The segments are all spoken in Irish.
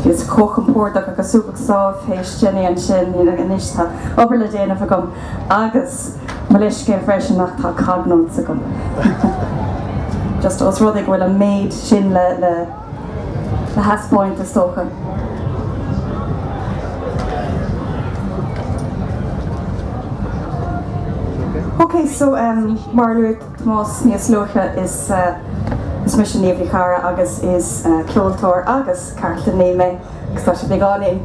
Bhíos chomh compordach agus súgach sámh théis Jenny ansin, anois tá obair le déanamh agam agus mo leithscéal freisin ach tá cog notes agam. Just os rud é go bhfuil an méid sin le. thaispeáint, is dócha. Ok, so mar a luaigh Tomás níos luaithe, is mise Niamh Ní Charra agus is ceoltóir agus cartlannaí mé, agus tá sé beagáinín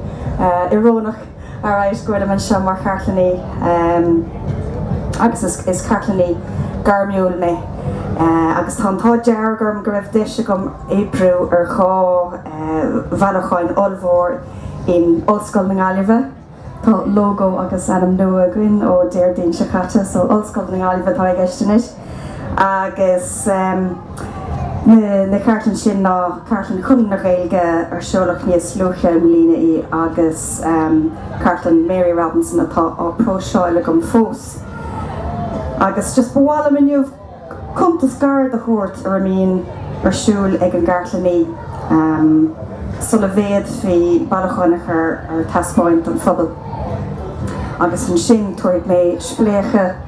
iorónach alright go bhfuilim anseo mar chartlannaí agus is cartlannaí gairmiúil mé agus tá an t-ádh dearg orm go raibh deis agam oibriú ar dhá bhailiúcháin ollmhór in Ollscoil na Gaillimhe. Tá lógó agus ainm nua againn ó Déardaoin seo caite so Ollscoil na Gaillimhe atá i gceist anois. agus na cartlann sin ná Cartlann Chonradh na Gaeilge, ar seoladh níos luaithe i mbliana í, agus Cartlann Mary Robinson atá á próiseáil agam fós. Agus just ba mhaith liom inniu cuntas gairid a thabhairt ar a mbíonn ar siúl ag an gcartlannaí sula bhféadfaí bailiúcháin a chur ar taispeáint don phobal agus ansin tabharfaidh mé spléachadh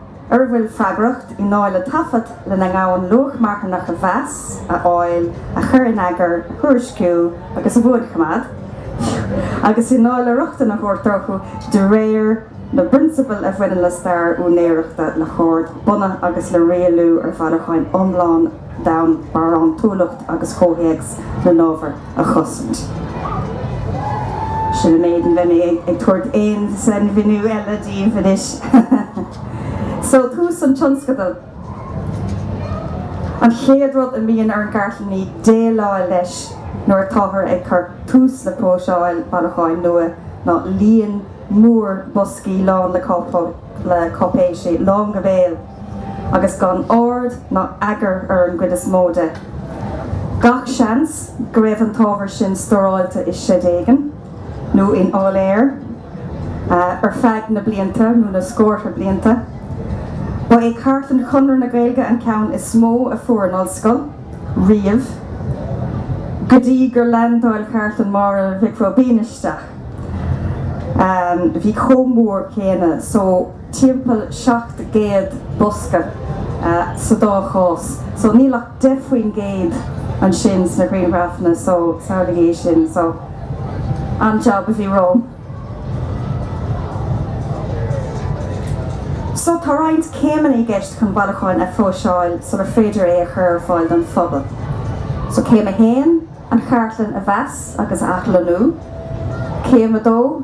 ar a bhfuil freagracht i ndáil le taifead lena ngabhann luach marthanach a mheas, a fháil, a chur in eagar, a thuairisciú agus a bhuanchoimeád, ii, agus i ndáil le rochtain a thabhairt orthu de réir na bprionsabal a bhaineann le stair úinéireachta, le hord bunaidh agus le rialú ar bhailiúcháin iomlána. d'fhonn barántúlacht agus comhthéacs na n-ábhar a chosaint. Sin an méid, ní bheidh mé ag tabhairt aon sainmhíniú eile daoibh anois. So, tús an tionscadail. An chéad rud a mbíonn ar an gcartlannaí déileáil leis nuair atáthar ag cur tús le próiseáil bailiúcháin nua ná líon mór boscaí lán le cáipéisí, lán go béal. agus gan ord ná eagar ar an gcuid is mó de. Gach seans go raibh an t-ábhar sin stóráilte i seid éigin, nó in áiléar, ar feadh na blianta, nó na scórtha blianta. Ba é cartlann Chonradh na Gaeilge an ceann is mó a fuair an Ollscoil, riamh, go dtí gur leaindeáil cartlann Mháire Mhic Róibín isteach. Bhí chomh mór céanna. timpeall 700 bosca sa dá chás so níl ach 10 faoin gcéad ansin sna grianghrafanna so samhlaigh é sin so an jab a bhí romham. So tá roinnt céimeanna i gceist chun bailiúchán a phróiseáil sular féidir é a chur ar fáil don phobal. So céim a haon, an chartlann a mheas agus a athlonnú, céim a dó,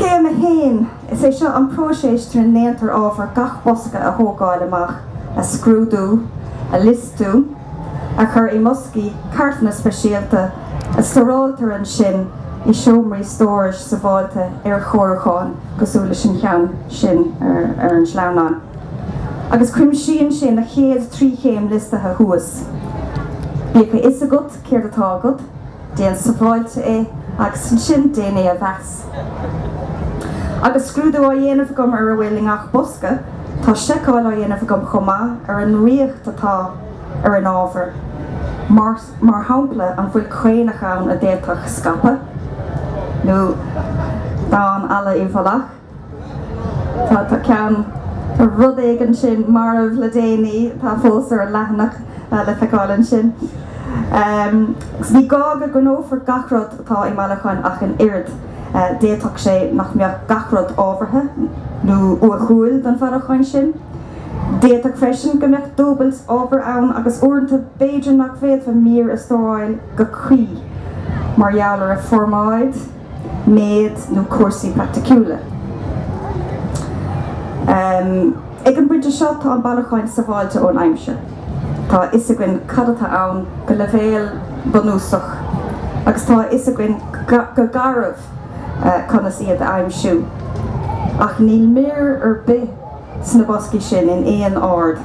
So céim 1, is é seo an próiseas trína ndéantar ábhar gach bosca a thógáil amach, a scrúdú, a liostú, a chur i mboscaí cartlainne speisialta, a stóráiltear ansin i seomraí stórais sábháilte ar chóiriúcháin cosúil leis an gceann sin ar an sleamhnán, agus cuimsíonn sé na chéad trí chéim liostaithe thuas. Bíodh a fhios agat céard atá agat. Déan sábháilte é agus ansin déan é a mheas. Agus scrúdú á dhéanamh agam ar a bhfuil i ngach bosca, tá seiceáil á dhéanamh agam chomh maith ar an riocht atá ar an ábhar, mar shampla an bhfuil caonach ann a d'fhéadfadh scaipeadh, nó damhán alla i bhfolach. Tá, tá ceann, rud éigin ansin marbh le déanaí, atá fós ar an leathanach le feiceáil ansin. Agus ní gá go gcoinneofar gach rud atá i mbailiúchán ach an oiread, d'fhéadfadh sé nach mbeadh gach rud ábhartha nó uathúil don bhailiúchán sin. D'fhéadfadh freisin go mbeadh dúbailt ábhair ann agus uaireanta b'fhéidir nach bhféadfaí mír a stóráil go cuí mar gheall ar a formáid, méid nó cúrsaí praiticiúla. Ag an bpointe seo tá an bailiúchán sábháilte ón aimsir. Tá a fhios againn cad atá ann go leibhéal bunúsach agus tá a fhios againn go garbh conas iad a aimsiú. Ach níl mír ar bith sna boscaí sin in aon ord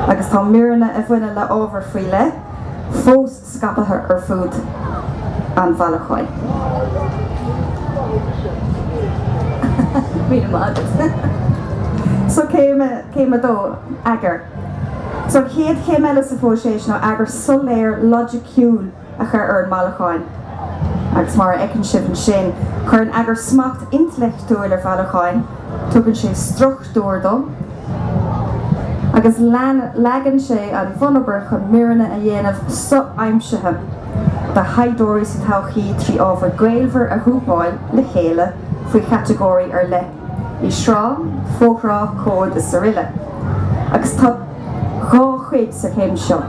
agus tá míreanna a bhaineann le ábhar faoi leith fós scaipthe ar fud an bhailiúcháin. So céim a dó, eagar. So an chéad chéim eile sa phróiseas ná eagar soiléir loighiciúil a chur ar an mbailiúchán agus, mar a fheiceann sibh ansin, cuireann eagar smacht intleachtúil ar bhailiúchán, tugann sé struchtúr, dó, agus leagann sé an bhunobair chun míreanna a dhéanamh so-aimsithe do thaighdeoirí sa todhchaí trí ábhar gaolmhar a ghrúpáil le chéile faoi chatagóirí ar leith, i.e. sraith, fo-shraith, comhad is aroile, agus tá dhá chuid sa chéim seo.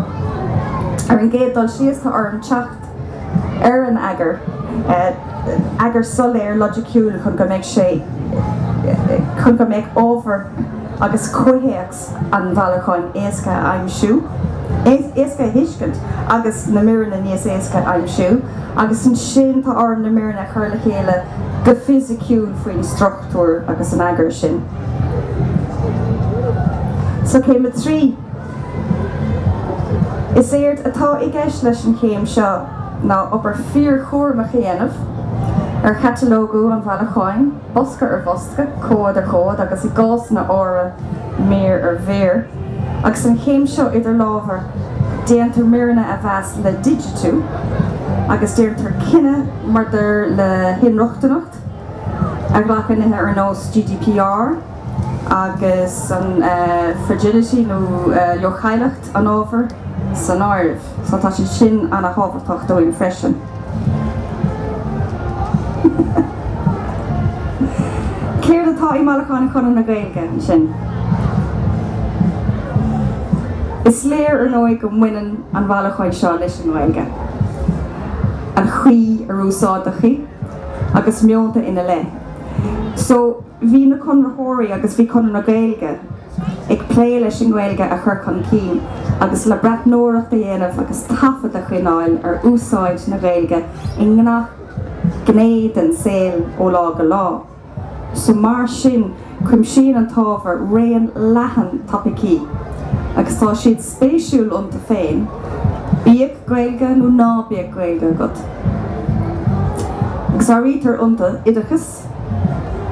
Ar an gcéad dul síos, tá orm teacht. ar an eagar, eagar soiléir loighiciúil chun go mbeidh sé chun go mbeadh ábhar agus comhthéacs an bhailiúcháin éasca a aimsiú, éasca a thuiscint agus na míreanna níos éasca a aimsiú agus ansin tá orm na míreanna a chur le chéile go fisiciúil faoin struchtúr agus an eagar sin. So céim a trí. Is éard atá i gceist leis an chéim seo ná obair fíorchúramach a dhéanamh ar chatalógú an bhailiúcháin, bosca ar bhosca, comhad ar chomhad agus, i gcásanna áirithe, mír ar mhír. Agus an chéim seo idir lámha, déantar míreanna a mheas le digitiú agus déantar cinneadh maidir le hinrochtaineacht, a ghlacann nithe ar nós GDPR, agus an fragility nó leochaileacht an ábhair san áireamh, so tá sé sin an-thábhachtach dúinn freisin. Céard atá i mBailiúchán Chonradh na Gaeilge ansin? Is léir ar ndóigh go mbaineann an bailiúchán seo leis an nGaeilge, an chaoi ar úsáideadh í agus meonta ina leith. So. Bhí na Conraitheoirí agus bhí Conradh na Gaeilge ag plé leis an nGaeilge a chur chun cinn agus le breathnóireacht a dhéanamh agus taifead a choinneáil ar úsáid na Gaeilge i ngach gné den saol ó lá go lá so mar sin cuimsíonn an t-ábhar raon leathan topaicí agus tá siad spéisiúil iontu féin bíodh Gaeilge nó ná bíodh Gaeilge agat agus áirítear iontu oideachas.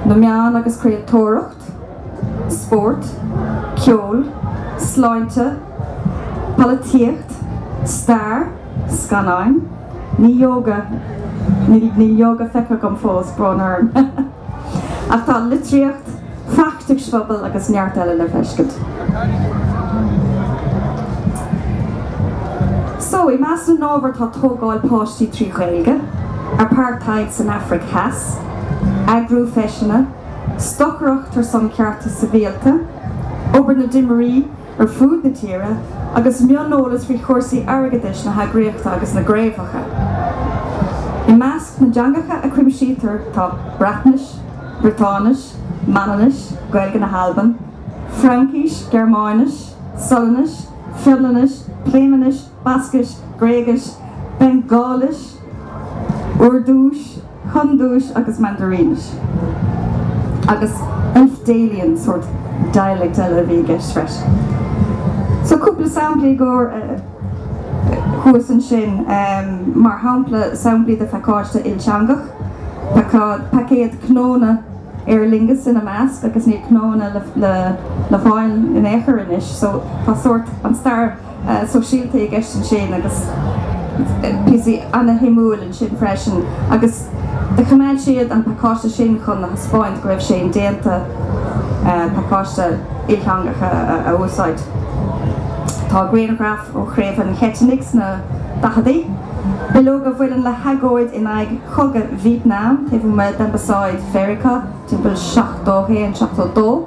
na meáin agus craoltóireacht, spórt, ceol, sláinte, polaitíocht, stair, scannáin, ní ióga, níl ióga feicthe agam fós, brón orm, ach tá litríocht, feachtais phobail agus neart eile le feiscint. So, i measc na n-ábhar tá tógáil páistí trí Ghaeilge, Apartheid san Afraic Theas, eagrú feiseanna, stocaireacht ar son cearta sibhialta, obair na dtimirí, ar fud na tíre agus mioneolas faoi chúrsaí airgeadais na heagraíochta agus na gcraobhacha. I measc na dteangacha a chuimsítear tá Breatnais, Briotáinis, Manannais, Gaeilge na hAlban, Fraincis, Gearmáinis, Sualainnis, Fionlainnis, Pléimeannais, Bascais, Gréigis, Bengaalis, Urdúis, Hiondúis agus Mandairínis, agus Elfdalian sórt dialect eile a bhí i gceist freisin. So cúpla sampla a chur thuas ansin, mar shampla samplaí de phacáiste ilteangach, paicéad cnónna Aer Lingus ina measc, agus níl cnónna le fáil in aon chor anois, so tá sórt an-stair. sóisialta i gceist ansin agus píosaí an-shuimiúil ansin freisin agus choimeád siad an pacáiste sin chun a thaispeáint go raibh sé indéanta pacáiste ilteangach a úsáid. Tá grianghraif ó Chraobh an Cheitinnigh sna daicheadaí, bileog a bhaineann le hagóid in aghaidh chogadh Vítneam taobh amuigh d'Ambasáid Mheiriceá timpeall 71, 72.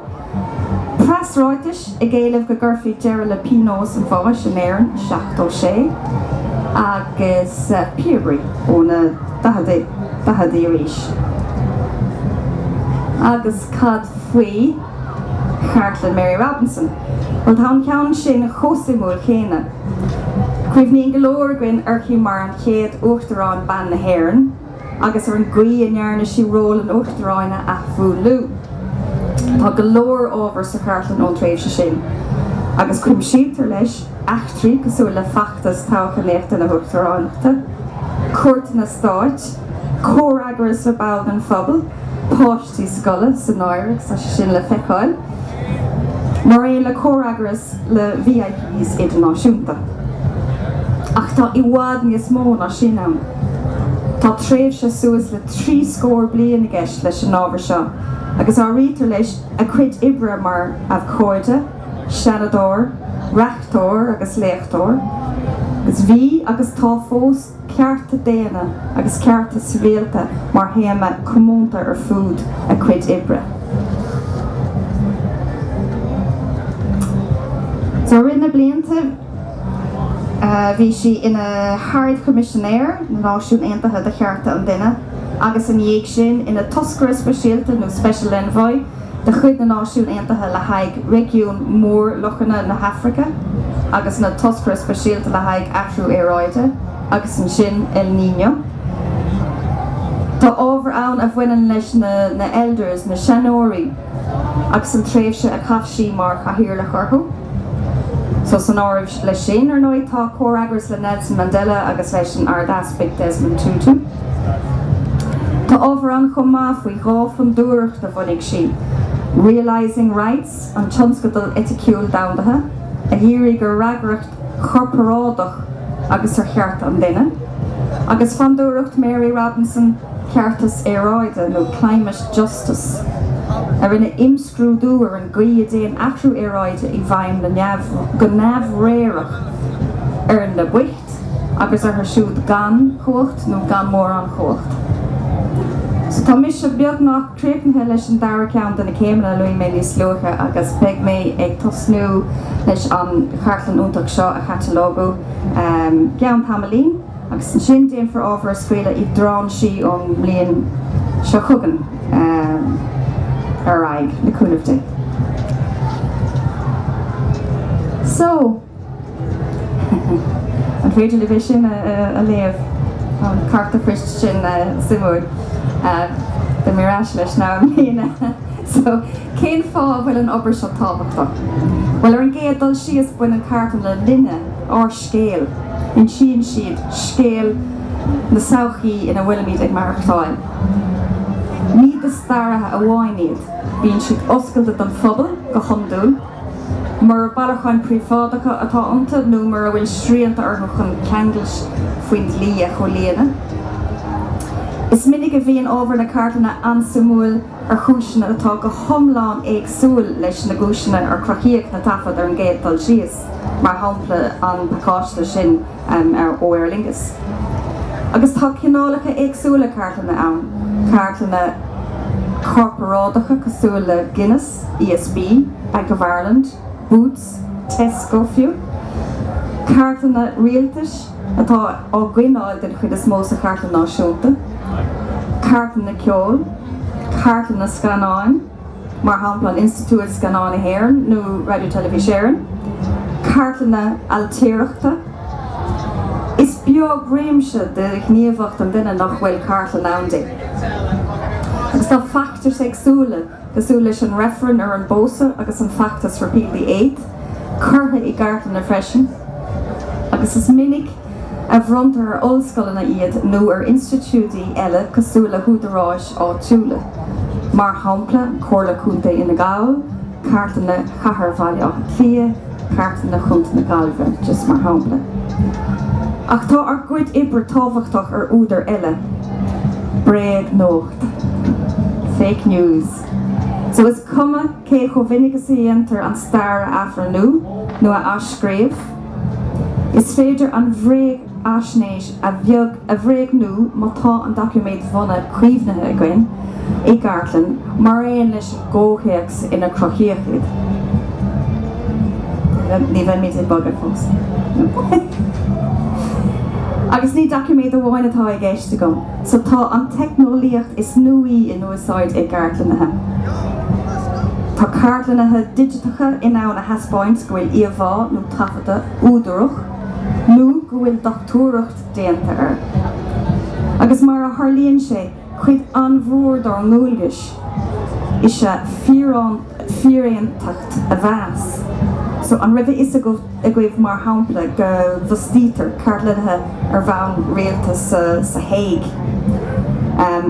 preasráitis ag éileamh go gcuirfí deireadh le pionós an bháis in Éirinn 76 agus píobairí ó na daicheadaí arís. Agus cad faoi chartlann Mary Robinson? Bhuel, tá an ceann sin chomh suimiúil céanna. Cuimhníonn go leor againn uirthi mar an chéad uachtarán mná na hÉireann. agus ar an gcaoi a ndearna sí ról an Uachtaráin a athmhúnlú. Tá go leor ábhar sa chartlann ón tréimhse sin, agus cuimsítear leis eachtraí cosúil le feachtas toghchánaíochta na hUachtaránachta, cuairteanna stáit, comhfhreagras le baill den phobal, páistí scoile san áireamh, tá sé sin le feiceáil mar aon le comhfhreagras le VIPs idirnáisiúnta. Ach tá i bhfad níos mó ná sin ann. Tá tréimhse suas le trí scór bliain i gceist leis an ábhar seo agus áirítear leis a cuid oibre mar abhcóide, seanadóir, reachtóir agus léachtóir. Agus bhí agus tá fós. cearta daonna agus cearta sibhialta mar théama comónta ar fud a cuid oibre. So i rith na blianta bhí sí ina hArd-Choimisinéir na Náisiún Aontaithe do Chearta an Duine agus ina dhiaidh sin ina Toscaire Speisialta nó Special Envoy de chuid na Náisiún Aontaithe le haghaidh réigiún Mhór-Lochanna na hAfraice agus ina Toscaire Speisialta le haghaidh Athrú Aeráide agus ansin El Niño. Tá ábhar ann a bhaineann leis na Elders, na Seanóirí, agus an tréimhse a chaith sí mar Chathaoirleach orthu. So san áireamh leis sin, ar ndóigh, tá comhfhreagras le Nelson Mandela agus leis an Ard-Easpag Desmond Tutu. Tá ábhar ann chomh maith faoi dhá fondúireacht a bhunaigh sí, Realising Rights, an tionscadal eiticiúil domhandaithe a dhírigh ar fhreagracht chorparádach agus ar chearta an duine, agus Fondúireacht Mary Robinson, Ceartas Aeráide nó Climate Justice, a rinne imscrúdú ar an. gcaoi a dtéann athrú aeráide i bhfeidhm go neamhréireach ar na boicht agus orthu siúd gan chumhacht nó gan mórán chumhacht. So tá mise beagnach críochnaithe leis an dara ceann de na céimeanna a luaigh mé níos luaithe agus beidh mé ag tosnú leis an chartlann iontach seo a chatalógú i gceann tamaillín. agus ansin déanfar ábhar a scaoileadh i dtráinsí ón mbliain seo chugainn ar aghaidh, le cúnamh Dé. So, an féidir libh é sin a léamh? Tá an cárta poist sin suimiúil. Beidh mé ar ais leis níos moille. So, cén fáth a bhfuil an obair seo tábhachtach? Bhuel, ar an gcéad dul síos, baineann cartlanna linne, ár. scéal. Insíonn siad scéal na sochaí ina bhfuilimid ag maireachtáil. Ní do staraithe amháin iad. Bíonn siad oscailte don phobal, go hiondúil, mura bailiúcháin phríobháideacha atá iontu nó mura bhfuil srianta orthu chun ceanglais faoin dlí a chomhlíonadh. Is minic a bhíonn ábhar na gcartlanna an-suimiúil. ar chúiseanna atá go hiomlán éagsúil leis na gcúiseanna ar cruthaíodh na taifid ar an gcéad dul síos, mar shampla an pacáiste sin ó Aer Lingus. Agus tá cineálacha éagsúla cartlainne ann, cartlanna corparáideacha cosúil le Guinness, ESB, Bank of Ireland, Boots, Tesco fiú, cartlanna rialtais, atá á gcoinneáil den chuid is mó sa Chartlann Náisiúnta, cartlanna ceoil, cartlanna scannáin, mar shampla an Institiúid Scannán na hÉireann nó Radio Telefís Éireann, cartlanna ailtireachta. Is beag réimse de ghníomhaíocht an duine nach bhfuil cartlann ann di agus tá feachtais éagsúla, cosúil leis an reifreann ar an bpósadh agus an feachtas Repeal the Eighth, curtha i gcartlanna freisin, agus is minic a bhronntar ar ollscoileanna iad nó ar institiúidí eile cosúil le húdaráis áitiúla, mar shampla Comhairle Contae Fhine Gall, Cartlanna Chathair Bhaile Átha Cliath, Cartlanna Chontae na Gaillimhe, just mar shampla. Ach tá ár gcuid oibre tábhachtach ar údar eile, bréagnuacht. Fake news. So is cuma cé chomh mhinic is a dhéantar an stair a athrú nó a athscríobh, is féidir an bhréagaisnéis a bhréagnú má tá an doiciméad bhunaidh caomhnaithe againn i gcartlann mar aon leis an gcomhthéacs inar cruthaíodh iad. Ní bheimid ag bogadh fós. Agus ní doiciméad amháin atá i gceist agam. So, tá an teicneolaíocht is nuaí in úsáid i gcartlannaithe. Tá cartlannaithe digiteacha in ann a thaispeáint go bhfuil íomhá nó taifead údarach nó go bhfuil dochtúireacht déanta air. Agus mar a tharlaíonn sé, cuid an-mhór dár ndualgais is ea fíoráin fíoraontacht a mheas. So an raibh a fhios agaibh, mar shampla, go bhfostaítear cartlannaithe ar bhonn rialta sa Hague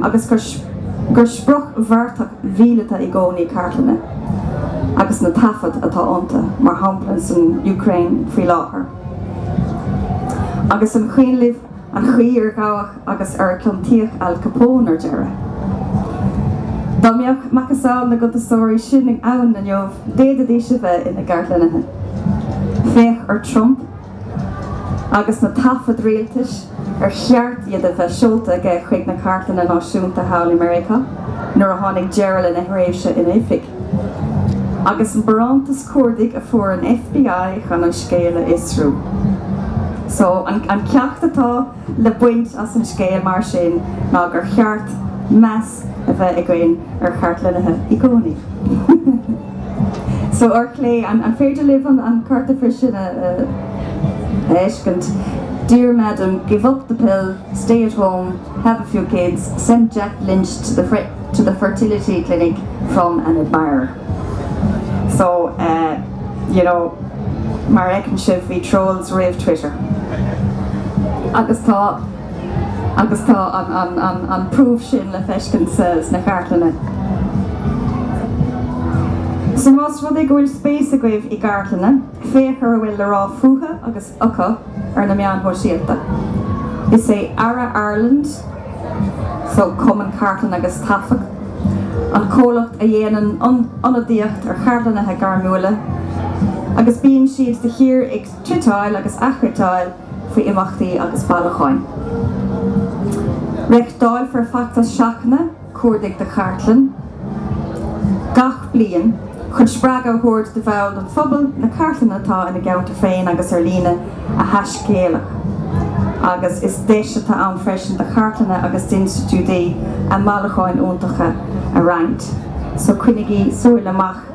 agus gur sprioc bheartach mhíleata i gcónaí cartlanna agus na taifid atá iontu, mar shampla san Úcráin faoi láthair, agus an cuimhin libh. an chaoi ar gabhadh agus ar ciontaíodh Al Capone ar deireadh. Dá mbeadh macasamhail na gcuntasóirí sin ann inniu, d'fhéadfaidís a bheith ina gcartlannaithe. Féach ar Trump agus na taifid rialtais ar cheart iad a bheith seolta aige chuig na Cartlanna Náisiúnta thall i Meiriceá nuair a tháinig deireadh lena thréimhse in oifig. agus an barántas cuardaigh a fuair an FBI chun an scéal a fhiosrú. So, an ceacht atá le baint as an scéal mar sin ná gur cheart meas a bheith againn ar chartlannaithe i gcónaí. So, ar chlé, an féidir libh an cárta freisin a fheiscint? Dear Madam, give up the pill, stay at home. Have a few kids, send Jack Lynch to the to the fertility clinic from an admirer. So eh you know mar a fheiceann sibh bhí trolls roimh Twitter. Agus tá agus tá an an an an proof sin le feiscint sa sna cartlanna. So más rud é go bhfuil spéis agaibh i gcartlanna, féach ar a bhfuil le rá fúthu agus. acu ar na meáin shóisialta. Is é ARA Ireland so, Cumann Cartlann agus Taifead, an comhlacht a dhéanann ionadaíocht ar chartlannaithe gairmiúla agus bíonn siad de shíor ag tweetáil agus aththweetáil faoi imeachtaí agus bailiúcháin. Reáchtáilfear feachtas seachtaine. cuardaigh do chartlann gach bliain chun spreagadh a thabhairt do bhaill den phobal na cartlanna atá ina gceantar féin agus ar líne a thaiscéaladh agus is deis atá ann freisin do chartlanna agus d'institiúidí a mbailiúcháin iontacha a roinnt. So coinnigí súil amach.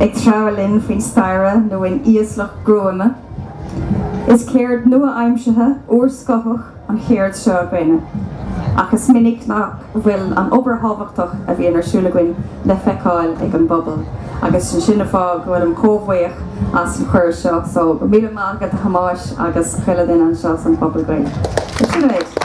ag treabhadh linn faoi staighre nó in íoslach gruama. Is ceird nua-aimseartha, úrscothach an cheird seo againn ach is minic nach bhfuil an obair thábhachtach a bhíonn ar siúl againn le feiceáil ag an bpobal agus sin an fáth go bhfuilim chomh buíoch as an chuireadh seo. So, go raibh míle maith agat a Thomáis agus chuile dhuine anseo san Phuball Gaeilge.